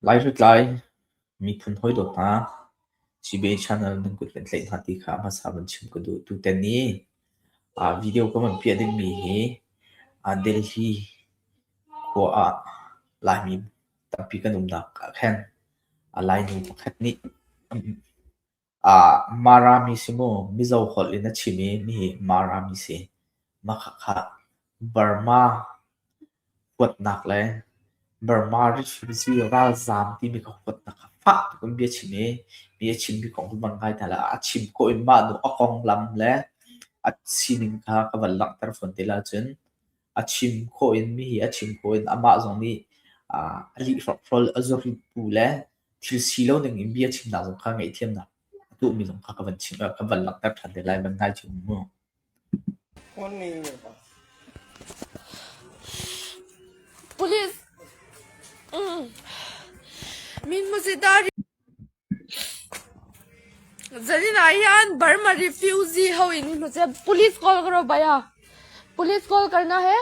Lai hritlai, miphun hawidawt hna, CBA channel nan kut kan tlaih hna ti kha hmasa van chim ka duh. Tutan i aa video kan van piah dingmi hi aa Delhi khua ah Laimi tampi kan umnak ah khan a Lainu pakhat nih Aa Marami si mu. Mizo holh in a chim i nihi Marami si. Makhakha Burma huatnak le Burma refugee ralzaam timi kha huatnak kha fak tein bia chim i bia chimmi kong cu van kai hna la. A chim khawh in mah nu a konglam le a sining kha ka van langhter fawn te la cun a chim khawh in mihi a chim khawh in amah zong nih aa a lih hrokhrawl a zurit bu le Thil si lo dingin bia chimnak zong kha ngaihthiamnak a tuhmi zong kha ka van chim, ka van langhter ṭhan te lai, van ngai ṭheu mu. Police min musita zanin ah hian Burma refugee ho in min muse police call karo baya police call karna hai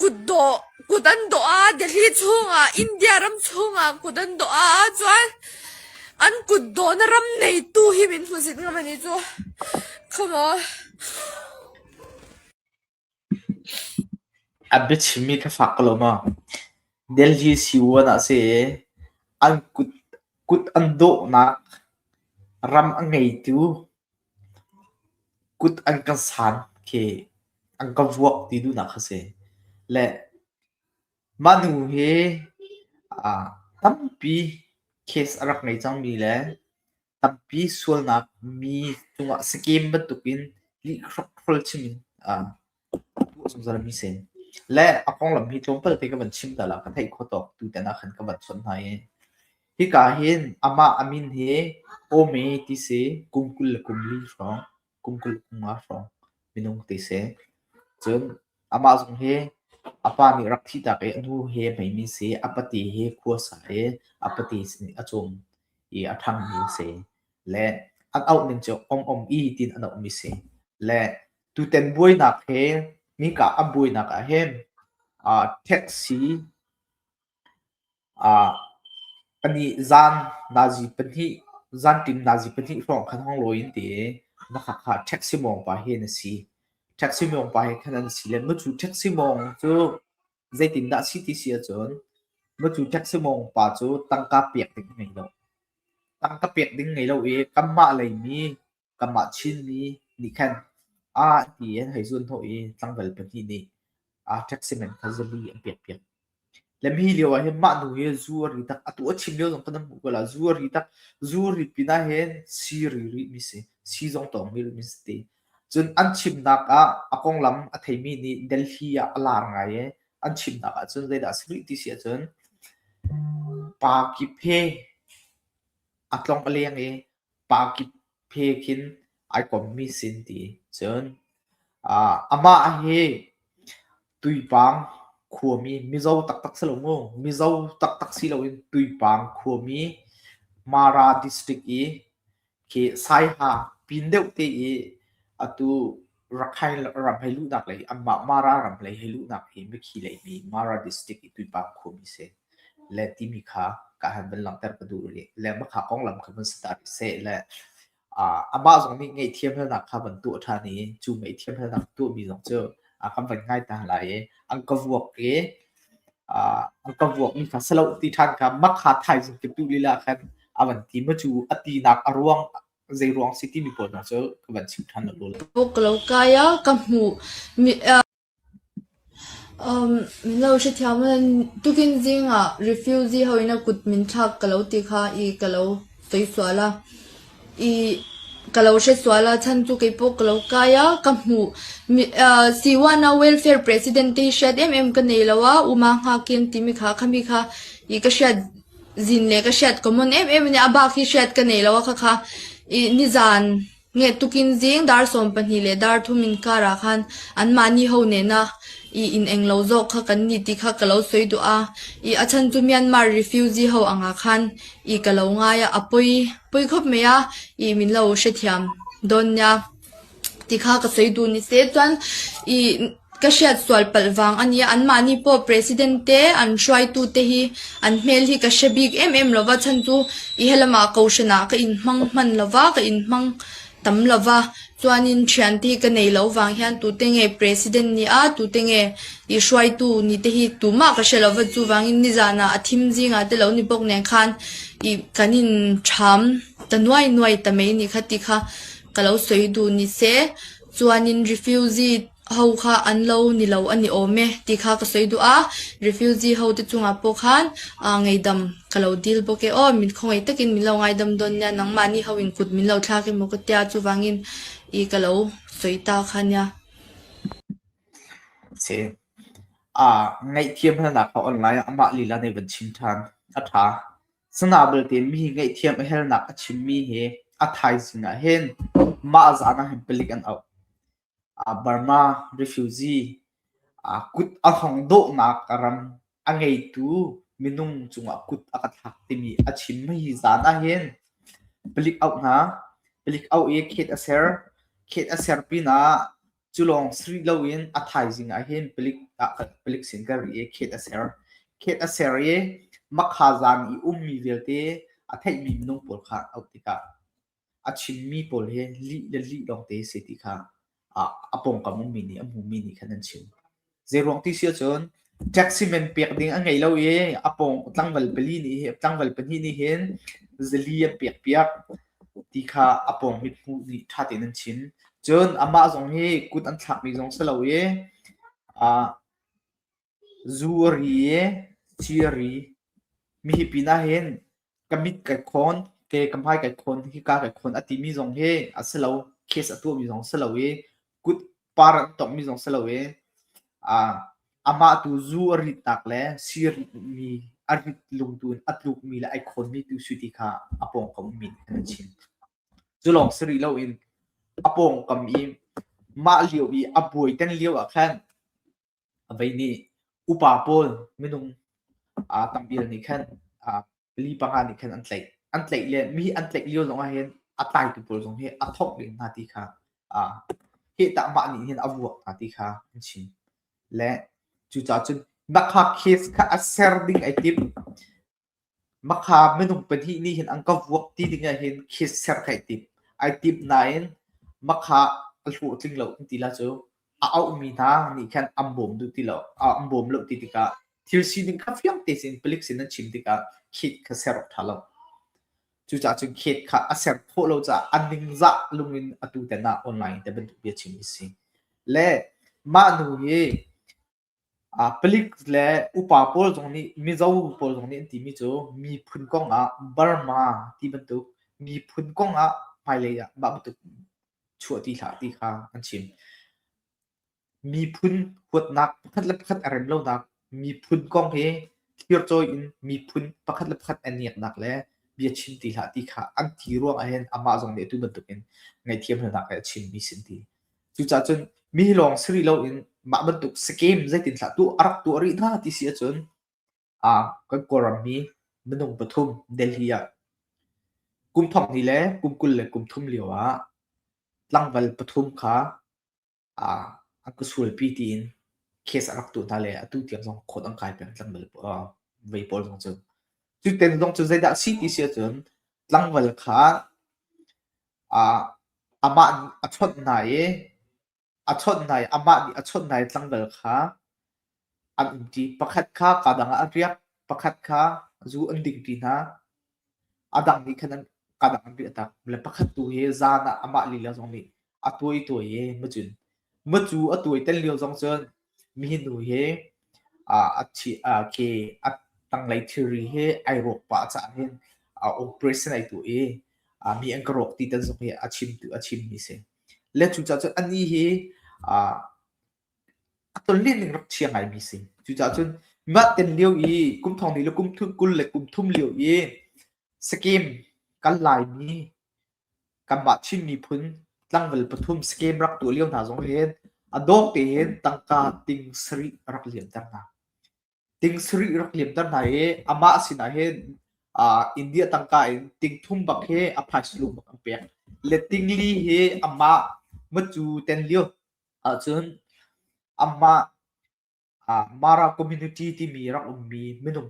Kut an dawh ah Delhi chungah, India ram chungah kut an dawh ahcun an kut dawhnak ram neitu hi min hmu zit ngam ani cu. Come on. A biachimmi ka fak ko lo ma. Delhi Siwan ah si i an kut, kut an dawhnak ram a ngeitu Kut an kan san khi an kan vuak ti duhnak a si. Le mah hnu hi aa tampi case a rak ngei cangmi le tampi sualnak mi cungah scam bantukin lih hrokhrawl chin in aa. Le a konglam hi tlawm palte ka van chim tal ah ka theih kho tawk tu ten ah khan ka van chawnh hna i hika hin amah a min hi Ome ti si kum kul le kum li hrawng, kum kul le kunga hrawng minung ti si. Cun amah zong hi a pa nih rak thih tak i a nu hi a hmeimi si, a pate hi khua sa i a pate nih a cawm i a ṭhangmi si. Le an auh ning cu Om Om I tiin an auhmi si. Le Tutan buainak he nika a buainak ah hin aa taxi aa pahnih zan nazi pahnih zanṭim nazi pahnih hrawng khan hong lawi an ti i nakhat kha taxi mawngpa hi an si. Taxi mawngpa he khan an si le mu cu taxi mawng cu zeitindah a si ti si ahcun mu cu taxi mawngpa cu tangka pek ding a ngei lo. Tangka pek ding ngei lo i kanmah lei mi kanmah Chinmi nih khan ah ti an hei zun hnawh i tlangval pahnih nih ah taxi man kha zabi an pekpiak. Le mi lio ah hin mah nu hi zu a ri tak, atu a chim lio zong kan nan hmuh ko la, zu a ri tak, zu ri pinah hin si ri rih mi si, si zong tawng mi rih mi si ti. Cun an chimnak ah a konglam a theimi nih Delhi ah a lar ngai i an chimnak ah cun zeidah a si rih ti si ahcun Pa Kyi Phe a tlong a leng i pa kip he khin ai kommi sin ti cun uh, amah hi tuipang khuami mizo taktak si lo mu mizo taktak si loin tuipang khuami mara district i khi saiha pin deuh te i atu Rakhine ram hei luhnak lei anmah Mara ram lei hei luhnak hi mikhi lei mi Mara district i tuipang khuami si le timi kha ka han van langhter ka duh rih. Lengmang kha konglam kha van si ta rih seh le uh, amah zong nih ngaihthiamhalnak kha van tuah ṭhan i cu ngaihthiamhalnak tuahmi zong cu a kan van ngai ta lai i an ka vuak i uh, an ka vuak mi kha si lo ti ṭhan kha makha thaizing tuk lila khan a van ti ma cu a tinak a ruang Zeiruang si timi pawl hna cu ka van chim ṭhan awk lo. Ka uk lo kai a ka hmuh mi um minlo hrethiam tukin zingah refugee ho in a kut min thlak ka lo ti kha i ka lo toi sual a i ka lo hre sual a chan cu kei pawh ka lo kai a ka hmuh mi Siwana welfare president te hriat em em ka nei lo a uma nghakin timi kha khami kha i ka hriat zin le ka hriat ko mawn em em nih a bak hi hriat ka nei lo a khakha i nizan nget tuk in zing dar sawm pahnih le dar thum in kar ah khan anmahni ho nena i in eng lo zawk kha kan ni ti kha ka lo soi duh a i a chhan chu Myanmar refugee ho anga khan i ka lo ngai a a poi poi khawp mai a i min lo hrethiam dawn nia ti kha ka soi duh. Ni te cun i ka hriat sual palh vang a nia. Anmah nih paw president te, an hruaitu te hi an hmel hi ka hre bik emem lo va. Chan cu i helam ah kohhran ah ka in hmang manh lo va, ka in hmang tam lo va. Cun in ṭhian te hi ka nei lo vang hin tute nge president nih a, tute nge i hruaitu ni te hi tumah ka hre lo va. Cuvangin nizan ah a thim zingah te lo nipok nen khan i kan in ṭham ta nuai nuai ta mei ni kha ti kha Ka lo soi duh ni seh, cun in refugee ho kha an lo ni lo an i awm e ti kha ka soi duh a. Refugee ho te cungah pawh khan aa ngaihdam ka lo dil bawk e aw. Min khawngaih takin min lo ngaidam dawn nia. Nangmah nih ho in kut min lo thlak em maw ka tia. Chuvangin i ka lo soi ta kha nia. Si. Aa ngaihthiam hnanak a on lai ah amah lila nih van chim ṭhan. A ṭha. Sana belte mi hi ngaihthiam a hernak a chimmi hi a thaizing ah hin mah zan ah hin palik an auh. Ah, Burma refugee ah kut a hong dawhnak ram a ngeitu minung cungah kut a ka thlak timi a chimmi hi zan ah hin palik auh hna. Palik auh i khet a ser. Khet a ser pinah Culawng siri loin a thaizing ah hin palik palik sin ka ri i khet a ser khet a ser i makhazang i ummi vialte a theihmi minung pawl kha auh tikah a chimmi pawl hi lih le lih lawngte si ti kha a pawngkam ummi nih a hmumi nih khan an chim. Zeiruang ti si ahcun taxi man pek ding a ngei lo i a pawng tlangval pali nih hin tlangval pahnih nih hin zali an pek piak ti kha a pawng mithmuh nih ṭha tein an chim. Cun amah zong hi kut an thlakmi zong si lo i ah zu a ri i ci a ri. Mihi pinah hin ka mit kai khawn, ke ka hmai kai khawn, hika kai khawn a timi zong hi a si lo. Case a tuahmi zong si lo i kut par an tongmi zong si lo i uh, amah tu zu a ritnak le si a ritmi a rit lungtu in a tlukmi le ai khawnmi tu si ti kha a pawngkam min an chin. Cu lawng si rih lo in a pawngkam i mah lio i a buai ten lio ah khan a vei nih upa pawl minung aa tam vial nih khan aa pali panga nih khan an tlaih an tlaih le mi an tlaih lio zong ah hin a taitu pawl zong hi a thawk len hna ti kha a hehta mah nih hin a vuak hna ti kha an chim le cucaah cun nakha case kha a ser ding ai tim Makha minung pahnih nih hin an ka vuak ti dingah hin kiss ser ka i tim. Ai tim nain makha a hlawhtling lo an ti la cu. A auhmi hna nih khan an bawm duh ti lo. An bawm lo ti tikah thil sining kha fiangte sin palik sin an chim tikah khit kha ser awk ṭha lo. Cucaah cun khit kha a ser khawh lo caah a ningzah lungin atu ten ah online te bantuk bia chim hi a si. Le mah nu hi Palik le upa pawl zong nih Mizo pawl zong nih an timi cu miphun kong ah Burma ti bantuk miphun kong ah hmailei ah mah bantuk chuah ti hlah ti kha an chim. Miphun huatnak pakhat le pakhat a rem lonak, miphun kong hi thircawi in miphun pakhat le pakhat an iaknak le bia chim ti hlah ti kha an ti ruang ah hin amah zong nih atu bantuk in ngaihthiam lonak he a chimmi a si an ti. Cucaah cun mi lawng si rih loin mah bantuk scheme zeitin hlah tuah a rak tuah rih hna ti si ahcun ah kan Kawlrammi minung pathum Delhi ah kum thongni le kum kul le kum thum lio ah tlangval pathum kha ah an ka sualpi tiin case a rak tuah hna le atu tiang zong khawt an kai peng tlangval uh, vei pawl zong cu. Cu ten zong cu zeidah a si ti si ahcun tlangval kha amah nih a chawnh hna i a chawnh hna i amah nih a chawnh hna i tlangdal kha an umṭi. Pakhat kha kaa dangah a riak, pakhat kha zu an dingṭi hna. A dang nih khan an kaa dang an riahtak. Le pakhat tu hi zan ah amah lila zong nih a tuai tuai i macun Mucu a tuai tel lio zong cun mi hi nu hi aa a thi aa khi a tanglei thilri hi ai rawk pah caan hin a operation ai tuah i a mi an ka rawk ti tal zong hi a chim tu a chim mi si. Le cucaah cun a ni hi a a tonlen ning rak chia ngai mi si. Cucaah cun mah ten lio i kum thong li le kum thum kul le kum thum lio i scam kan lai mi kanmah Chin miphun tlangval pathum scam rak tuah lio hna zong hin a dawh tein tangka ting sarih a rak liamter hna. Ting sarih rak liamter hna i amah sinah hin uh, India tangka in ting thum bak hi a phaisa lung bak an pek. Le ting li hi amah macu ten lio ahcun amah Mara community timi rak ummi minung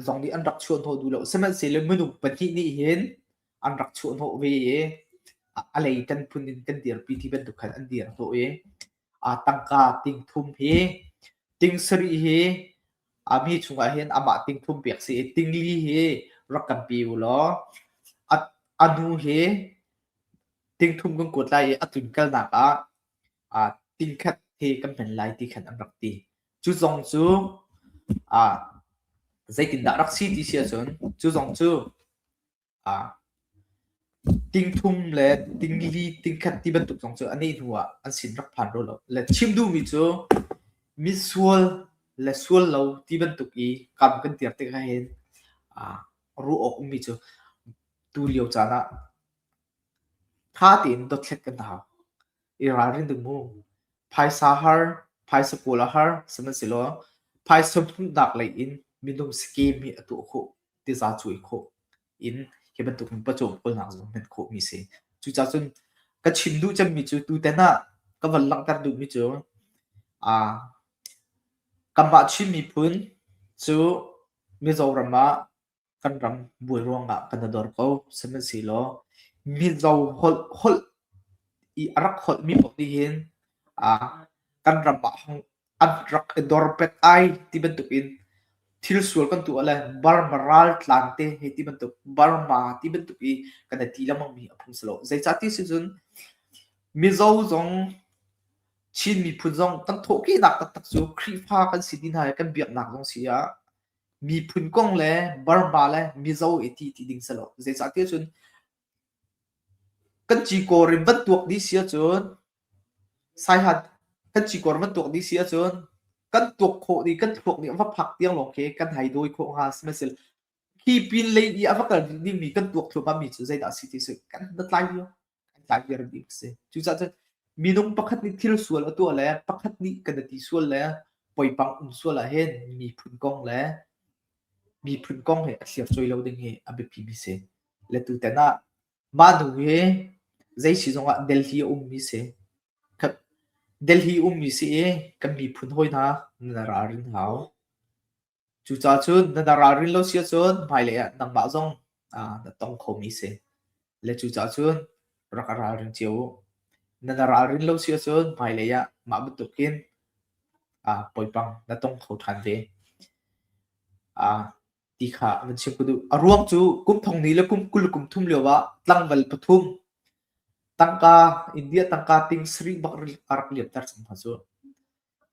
zong nih an rak chuah hnawh duh lo. Sihmanhsehlaw minung pahnih nih hin an rak chuah hnawh ve i a lei kan phun in kan dirpi ti bantuk khan an dir hnawh i tangka ting thum hi ting sarih hi a mi chungah hin amah ting thum pek si i ting li hi rak kan pe u law a nu hi ting thum kan kuat lai i a tlunkalnak ah aa tingkhat he kan hman lai ti khan an rak ti. Cu zong cu aa zeitindah rak si ti si ahcun cu zong cu aa tingthum le tingli tingkhat ti bantuk zong cu a nih hnu ah an sin rak phan ro lo. Le chim duhmi cu misual le sual lo ti bantuk i kam kan tiar tikah hin aa ruah awk ummi cu tu lio caan ah tha tein dothlet kan hau. i ralrin ding mu. Phaisa har, phaisa pawl a har, sihmanhsehlaw phaisa hmuhnak lei in minung scheme hi a tuah khawh, tiza cuai khawh in hi bantuk in pawcawmkulnak zong hman khawhmi si. Cucaah cun ka chim duh cemmi cu tutan ah ka von langhter duhmi cu uh, kanmah Chin miphun cu Mizoram ah kan ram buai ruangah kan i dor ko. Sihmanhsehlaw Mizo holh holh i a rak holhmi paoh nih hin ah kan ram ah hong an rak i dor pek ai ti bantukin thil sual kan tuah le Burma raltlan te hi ti bantuk Burma ti bantuk i kan i ti lengmangmi a phung si lo. Zeicah ti si cun Mizo zong Chin miphun zong kan thawhkehnak taktak cu Khrihfa kan si ti hna i kan biaknak zong si ah miphun kong le Burma le Mizo i ti ti ding selaw. Zeicah ti cun kan cikor in van tuak dih si ahcun saihat kan cikor van tuak dih si ahcun kan tuak khawh dih kan thluak nih a va phak tiang lawng khi kan hai dawi khawh hnga sihmanhsehlaw khi pin lei i a va kal dingmi kan tuak thluam mi cu zeidah si ti cu kan hnatlai dio. kan tlaider bik si cucaah minung pakhat nih thil sual a tuah le pakhat nih kan i ti sual le poipang um sual ah hin miphun kong le miphun kong he a thlir choi lo ding hi a biapi mi si le tu ten ah mah nu hi zei si zong ah delhi a um mi si delhi um mi si i kan miphun hoi hna na ral hau Cucacun na na ralrin lo si ahcun hmailei ah nangmah zong aa na tong khomi si. Le cucacun rak i ralring cio u. Na na ralrin lo si ahcun hmailei ah mah bantukin aa poipang na tong kho ṭhan ve. Aa ti kha van chim ka duh. A ruang cu kum thong ni le kum kul le kum thum lioah tlangval pathum tangka India tangka ting sarih bak a rak liamter cang hna cu.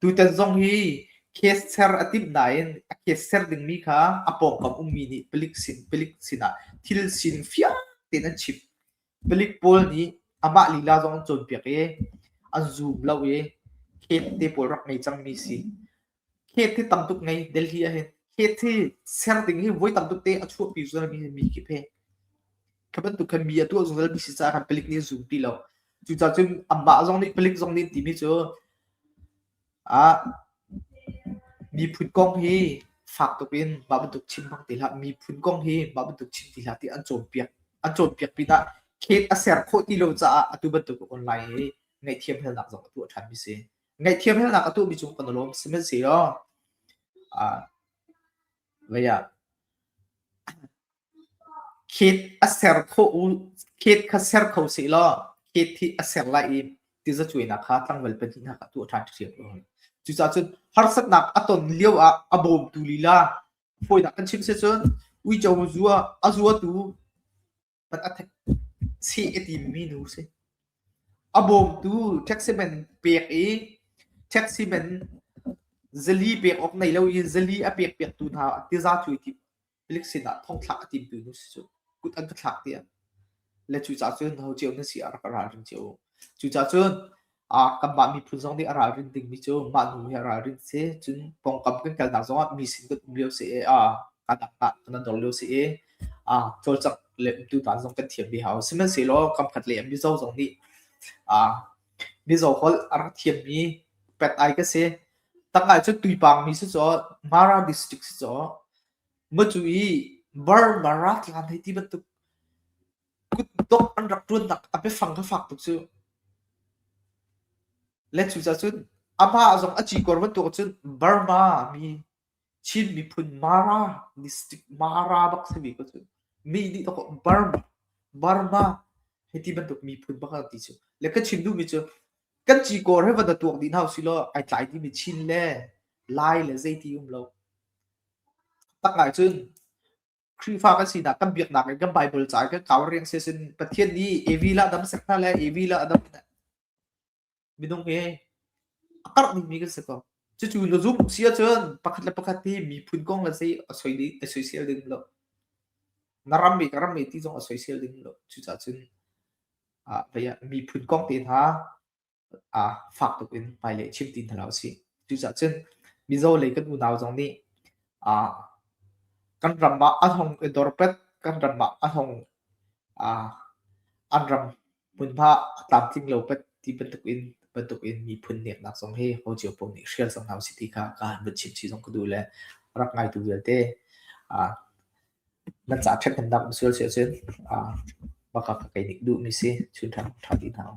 Tutan zong hi case ser a timh nain a case ser dingmi kha a pawngkam ummi nih palik sin palik sinah thil sin fiang tein an chim. Palik pawl nih amah lila zong an cawnpiak i an zum lo i case te pawl rak ngei cangmi si. Case hi tam tuk ngei Delhi ah hin case hi ser ding hi voi tam tuk te a chuahpi zungzalmi mi khi phe. Kha bantuk khan mi a tuah zungzalmi si caah khan palik nih a zum ti lo. Cucaah cun amah zong nih palik zong nih timi cu Miphun kong hi fak tuk in mah bantuk chim hmang ti hlah, miphun kong hi mah bantuk chim ti hlah ti an cawnpiak. An cawnpiak pinah khet a ser khawh ti lo caah atu bantuk online hi ngaihthiamhalnak zong a tuah ṭhanmi si. Ngaihthiamhalnak a tuahmi cu kan i lawm, sihmanhsehlaw vei ah Khit kha ser kho sih law khit hi a ser lai i tiza cuainak kha tlangval pahnih hna kha tuah ṭhan ṭhiam a hun. Cucaahcun harsatnak a ton lio ah a bawmtu lila hawidah kan chim si cun uico zua a zuatu pat a thek sih i timmi nu si. A bawmtu taxi man pek i taxi man zali pek awk nei lo in zali a pek piaktu hna tiza cuai ti Milik sinah thongthlak a timtu nu si cu kut an ka thlak tiang. Le cucaah cun ho cio nan si ah rak ka ralring cio. Cucaah cun uh, kanmah miphun zong nih a ralrin dingmi cu mah nu hi a ralrin si. Cun pawngkam kan kalnak zongah mi sin kan um lio si i uh, kanah kan nan dor lio si i uh, cawlcak le umtu hna zong kan thiam ve hau. Sihmanhsehlaw kamkhat lei mizo zong nih uh, mizo holh a rak thiammi pet ai ka si. Tangkai cu tuipangmi si caw, Mara district si caw, ngacu i Burmara tlang hei ti bantuk kutdok an rak ṭuannak a biafang kha fak tuk cu. Le cucaah cun amah zong a cikor bantuk cun Burma mi Chin miphun Mara district Mara bak si mi kha cun mi nih dah kaw Burma Burma hei ti bantuk miphun bak an ti cu. Le ka chim duhmi cu kan cikawr he va na tuak dih hna usih law ai tlai timi chin le lai le zeiti um lo. Tak ahcun Khrihfa kan sinak kan biaknak in kan Bible ca i kan kau riang sesin Pathian nih Evi la adam sek hna le Evi la adam minung hi a karh dingmi kan si ko. Cucu lo zum si ahcun pakhat le pakhat hi miphun kong le sei a soi ding a soisel ding lo. Na ram mi ka ram mi ti zong a soisel ding lo. Cucahcun ah miphun kong te hna ah fak tuk in hmailei chim ti hna lo a si. Cucaah cun Mizo lei kan unau zong nih ah kan ram ah a thong i dorpet kan ram ah a thong ah an ram hmunhma tlamtling lo pat ti bantuk in bantuk in miphun neknak zong hi ho cio pom nih hrial zong hau si ti kha ka han vun chim chi zong ka duh le rak ngaitu vialte ah Nan caah ṭhat kan damh sual si ahcun baka ka kei nih duhmi si chunhram ṭha ti hna u.